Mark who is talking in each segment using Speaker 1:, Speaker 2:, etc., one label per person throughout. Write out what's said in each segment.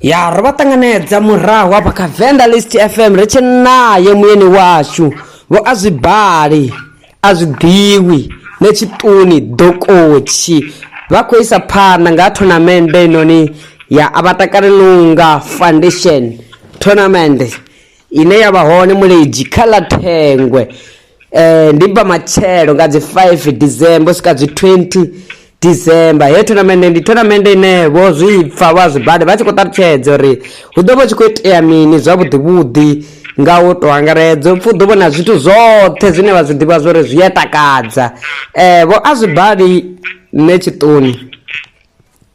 Speaker 1: ya ro vha ṱanganedza murahu hafha kha venḓa list fm ri tshi naye muyeni washu vho a zwi bali a zwi ḓivhi ne tshiṱuni dokotshi vha khou isa phanḓa nga thonamende inoni ya a vha takale lunga foundation thonamende ine ya vha hone muledzhi kha ḽa thengwe Eh, ndi bva matshelo nga dzi 5 december u swika dzi 20 december he tournament ndi tournament ine vho zwi pfa vha zwi bade vha tshi khou ṱalutshedza uri hu ḓo vha tshi khou itea mini zwavhuḓi vhuḓi nga u to angaredza upfa u ḓo vhona zwithu zwoṱhe zwine vha zwi ḓivha zwori zwi a takadza eh vho a zwi bali nṋe tshiṱoni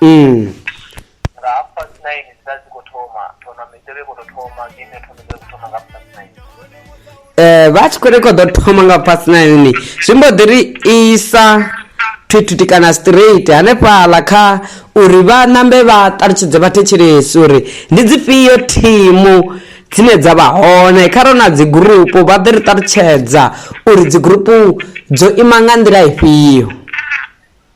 Speaker 2: mm. nga half past nine dzila dzi khou thoma tournament yo vha i khou tou thoma game ya tournament yo khou thoma nga half past nine eh vha tshi khou ri
Speaker 1: khou ḓo thoma nga past nine ni zwi mbo ḓi ri isa thwithuthi kana straight hanefhaḽa kha uri vha nambe vha ṱalutshedze vhathetshelesi uri ndi dzifhio thimu dzine dza vha hone kha ro na dzigurupu vha ḓi ri ṱalutshedza uri dzigurupu dzo ima nga nḓila ifhio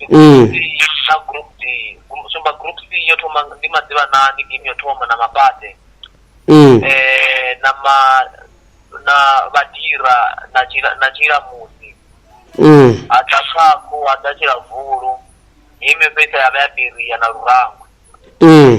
Speaker 2: ee na group d Gru- sumba group c yo thoma ndi maḓivhanani game yo thoma na mabate ee eh na ma na vhadira na tshila na tshila musi ee ha ḓa khakhu ha ḓa tshila vulu hei mifhesa ya vha ya beria na lurangwe ee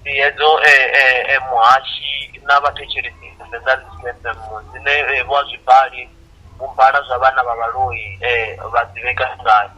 Speaker 2: ndi hedzo muhashi na vhathetshelesi Venḓa FM dzine vho a zwi bali vhu bala zwa vhana vha vhaloi vha ḓivheka ngayo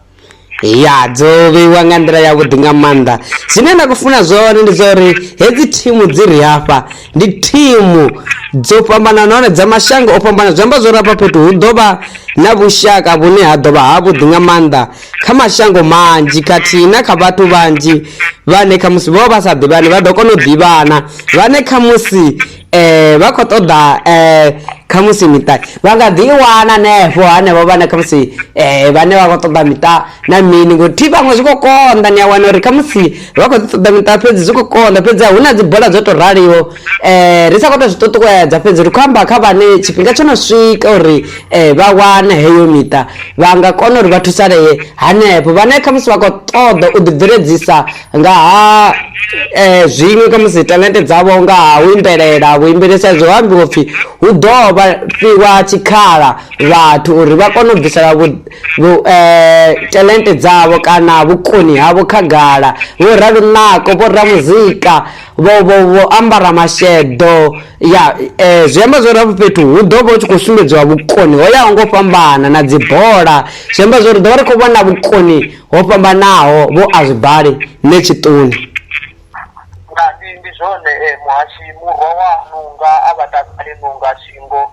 Speaker 2: ya
Speaker 1: dzo vheiwa nga nḓila yavhuḓi nga maanḓa zwine nda khou funa zwone ndi zwa uri hedzi thimu dzi ri hafha ndi thimu dzo fhambana nahone dza mashango o fhambana zwi amba zwori afha fhethu hu ḓo vha na vhushaka vhune ha ḓo vha havhuḓi nga maanḓa kha mashango manzhi khathihi na kha vhathu vhanzhi vhane khamusi vho vha vha sa ḓivhani vha ḓo kona u ḓivhana vhane khamusi um vha khou ṱoḓa um khamusi miṱa vha nga ḓi i wana hanefho hanevho vhane khamusi um vhane vha khou ṱoḓa miṱa na mini ngori thi vhaṅwe zwi khou konḓa ni a wana uri khamusi vha khou ḓi ṱoḓa miṱa fhedzi zwi khou konḓa fhedzi hu na dzibola dzo tou raliho um ri sa khou tou zwi ṱuṱuwedza fhedzi ri khou amba kha vhane tshifhinga tsho no swika uri um vha wane heyo miṱa vha nga kona uri vha thusalee hanefho vhane khamusi vha khou ṱoḓa u ḓibveledzisa nga ha um zwiṅwe khamusi talente dzavho nga ha u imbelela vhuimbeli sa izwi ho ambiwa upfhi hu ḓo vha fhiwa tshikhala vhathu uri vha kone u bvisela talente dzavho kana vhukoni havho khagala vho ralo nako vho ramuzika vho vho vho ambara masheḓo ya eh, zwi amba zwori hafho fhethu hu ḓo vha hu tshi khou sumbedziwa vhukoni ho yaho ngo fhambana na dzibola zwi amba zwori ḓo vha ri khou vhona vhukoni ho fhambanaho vho a zwi bali ne tshiṱuni
Speaker 2: nga ndi ndi zwone eh, muhashi murwa wa nunga a vha takale nunga shingo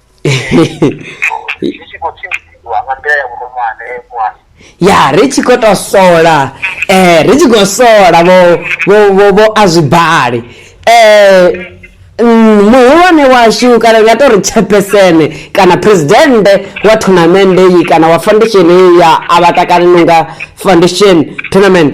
Speaker 2: zwi tshi khou tshimbidziwa nga nḓila ya vhuronwane mwana ya ri tshi
Speaker 1: khou tou sola eh ri tshi khou sola vho vho vho vho a zwi bali eh mm, muhulwane washu kana nga to ri tshepesene kana presidente wa tournamende iyi kana wa foundation iyi ya avatakani nonga foundation tournament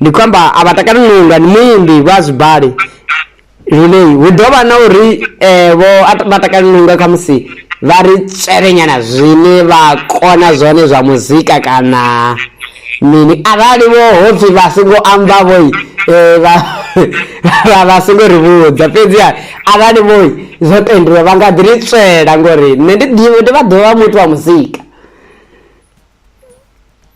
Speaker 1: ndi khou amba a vha takali lunga ndi muimbi vha zwibali lune hu ḓo vha na uri um vho vha takali lunga kha musi vha ri tswelenyana zwine vha kona zwone zwa muzika kana mini arali vho ho pfhi vha songo amba vhoi eh, vha songo ri vhudza fhedziha arali vhoi zwo tendiwa vha nga ḓi ri tswela ngori nṋe ndi ḓivhe ndi vha ḓovha muthu wa muzika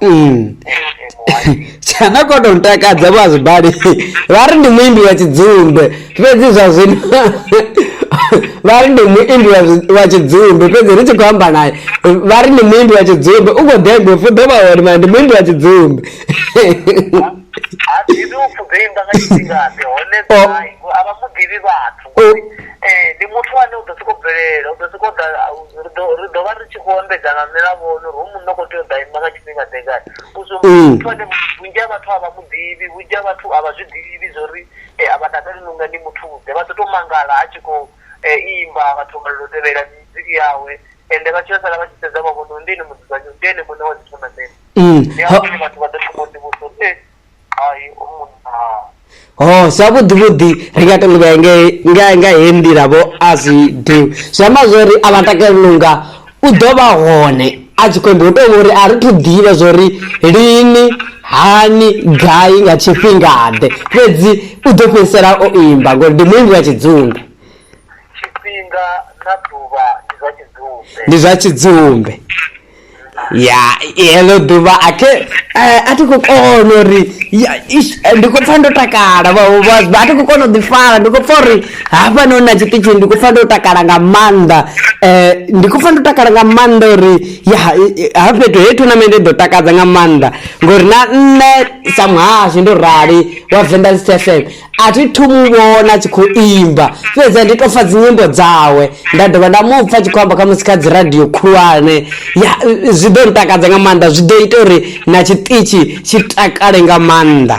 Speaker 2: Mm.
Speaker 1: tsana ko to ntakadza vazibali va ri ndi muimbi wa chidzumbe fhedzi zwa zwino va ri ndi muimbi wa zwi- wa chidzumbe fhedzi ri tshi khou amba naye va ri ndi muimbi wa chidzumbe u khou degwe fu ḓo vha uri mara ndi muimbi wa chidzumbe
Speaker 2: ha ḓivhi upfhi dzo imba nga tshifhingaḓe hone Oh. gai, a vha mu ḓivhi vhathu Oh. Ee, ndi muthu ane u ḓo sokou bvelela, u ḓo sokou ḓa ri ḓo ri ḓo vha ri tshi khou ambedza nga milavhono uri hoyu munna u khou tea u ḓa ima nga tshifhingaḓe ngani. U zwi humbula uri muthu ane vhunzhi ha vhathu a vha mu ḓivhi, vhunzhi ha vhathu a vha zwi ḓivhi zwo ri a vha takaleli na u nga ndi muthu-ḓe. Vha ḓo tou mangala a tshi khou imba, vha thomela u tevhelela music yawe ende vha tshi yo sala vha tshi sedza vha vhona uri ndi ene mudzudzanyi, ndi ene muṋe wa dzi thonamennde. Ndi hafho hune vhathu vha ḓo thoma u ḓivhudzisa uri ee. ho oh, zwavhuḓi vhuḓi
Speaker 1: ri nga to livhaya nga he nḓila vho a zwi do zwi amba zwori a vha takali nunga u ḓo vha hone a tshi khou amba u tou uri a ri thu ḓivha zwori lini hani gai nga tshifhingaḓe fhedzi u ḓo fhedzisela o imba ngori ndi muimbi wa tshidzumbe
Speaker 2: ndi
Speaker 1: zwa tshidzumbe ya heḽo ḓuvha a thi eh, a thi khou kona uri eh, ndi khou pfa ndo takala a thi khou kona u ḓifara ndi khou pfa uri hafha no na tshiṱitshini ndi khou pfa ndo takala nga maanḓa um ndi khou pfa ndo takala nga maanḓa uri ya ha fhethu he tournament ḓo takadza nga maanḓa ngori na nṋe sa muhasho ndo rali wa vendas t f m a thi thu mu vhona a tshi khou imba fhedzi a ndi tou pfa dzinyimbo dzawe nda dovha nda mu pfa tshi khou amba khamusi kha dzi radio khulwane ya zwi ḓo ntakadza nga maanḓa zwi ḓo ita uri na tshiṱitshi tshi takale nga maanḓa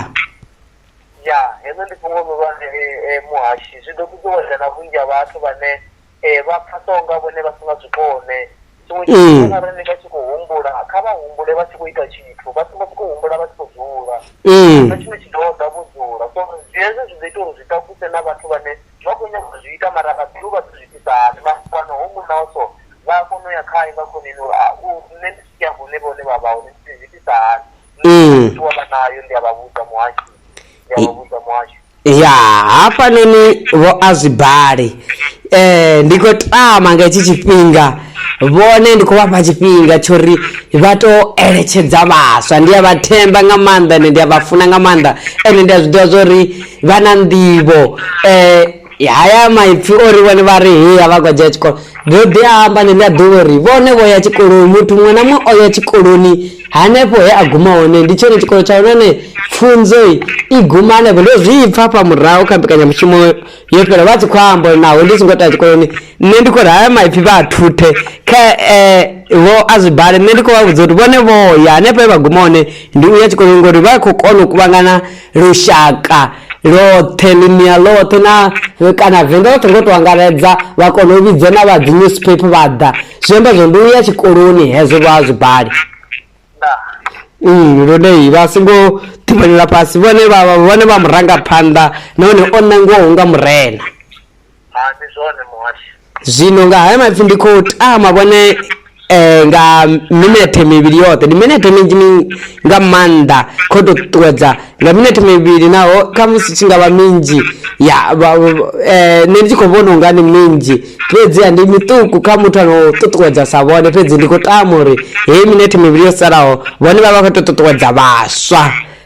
Speaker 1: ya
Speaker 2: heḽo ndi fhungo ḽihulwane eh, eh, muhashi zwi ḓo ṱuṱuwedza na vhunzhi ha vhathu vhane vha pfhasaho nga vhone vha si nga zwi kone tshiṅwe tshifhinga na rine vha tshi khou humbula kha vha humbule vha tshi khou ita tshithu vha songo sokou humbula vha tshi khou dzula na tshine tshi ḓo ḓa vho dzula so hezwo zwi ḓo ita uri zwi takuse na vhathu vhane vha khou nyanga u zwi ita mara vha ḓivhi vha ḓo zwi itisa hani mara fhano ho muṋaho so vha a kona u ya khae nga khoneni uri a u nṋe ndi tshi ya hune vhone vha vha hone ndi zwi itisa hani. Mm. ṱuwa vha nayo ndi a vha vhudza muhasho ndi a vha vhudza muhasho
Speaker 1: ya hafhanoni vho a zwi bali um ndi khou tama nga hetshi tshifhinga vhone ndi khou vhafha tshifhinga tsho ri vha tou eletshedza vhaswa ndi a vha themba nga maanḓa ende ndi a vha funa nga maanḓa ende ndi a zwi ḓivha zwa uri vha na nḓivho um haya maipfi ori vhone vha ri heya vha khou dzhia tshikolo ndo ḓi amba neḽi a ḓuvha uri vhone vho ya tshikoloni muthu muṅwe na muṅwe o ya tshikoloni hanefho he a guma hone ndi tshone tshikolo tsha hone pfunzo i guma hanefho ndo zwi pfa fha murahu kha mbekanyamushumo yo fhela vha tshi khou amba uri naho ndi songo tea tshikoloni nṋe ndi khou ri haya maipfi vha a thuthe kha um vho a zwi bale nṋe ndi khou vha vhudza uri vhone vho ya hanefho e vha guma hone ndi u ya tshikoloni ngori vha khou kona u kuvhangana lushaka lothe ḽinia lothe na kana venḓa lothe ngo to angaredza vha kona u vhidza na vha dzi newspaper vha ḓa zwi amba zwo ndi u ya tshikoloni hezwo vha a zwi bale Mm, lune vha songo ṱhimanela fhasi vhone vha vhone vha murangaphanḓa nahone o nangiwaho nga murena Hai ndi zwone muhasho. Zwino nga haya maipfi ndi khou tama vhone eh nga minethe mivhili yoṱhe ndi minethe minzhi mi- nga maanḓa khou tou ṱuṱuwedza nga minethe mivhili naho khamusi tshi nga vha minzhi ya vha- vha- eh, nṋe ndi tshi khou vhona unga ndi minzhi fhedziha ndi miṱuku kha muthu ano ṱuṱuwedza sa vhone fhedzi ndi khou tama uri heyi minethe mivhili yo salaho vhone vha vha khou tou ṱuṱuwedza vhaswa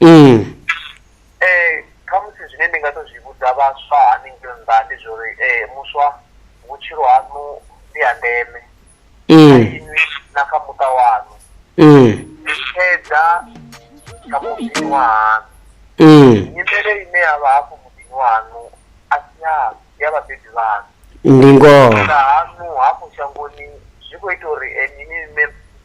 Speaker 2: Mm. Eh khamusi zwine ndi nga to zwi vhudza vhaswa haningei nnḓa ndi zwa uri eh muswa vhutshilo haṋu ndi ha ndeme mm. inwi na kha muṱa waṋu mm. ni tshedza kha muḓini wa haṋu mm. nyimele ine ya vha hafho muḓini waṋu a si yaṋu ya vhabebi vhaṋu ndi ngoho
Speaker 1: haṋu hafho
Speaker 2: shangoni zwi khou ita uri eh, nini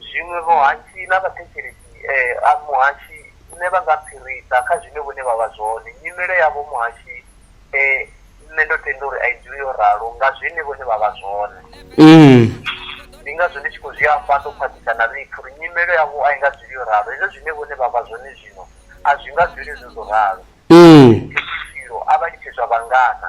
Speaker 1: Zwiṅwe
Speaker 2: vhohatshi na vhathetshelesi a muhashi nṋe vha nga fhirisa kha zwine vhone vha vha zwone. Nyimele yavho muhashi nṋe ndo tenda uri a i dzuli yo ralo nga zwine vhone vha vha zwone. Ndi ngazwo ndi tshi khou zwi amba ndo khwaṱhisa na ḽiipfi uri nyimele yavho a i nga dzuli yo ralo. Hezwo zwine vhone vha vha zwone zwino a zwi nga dzuli zwo zwo ralo. Vhutshilo a vha litshe zwa vhangana.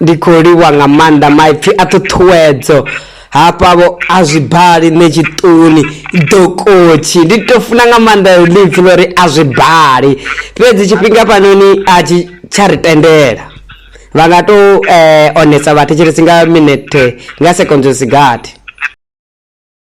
Speaker 1: Ndi khou livhuwa nga maanḓa maipfi a ṱhuṱhuwedzo hafha vho a zwi bali nṋe tshiṱuni dokotshi ndi to funa nga maanḓa ḽipfi ḽo ri a zwi bali fhedzi tshifhinga fhanoni a tshi tsha ri tendela vha nga to eh, onesa vhathetshelesi nga minete nga sekondzo sigathi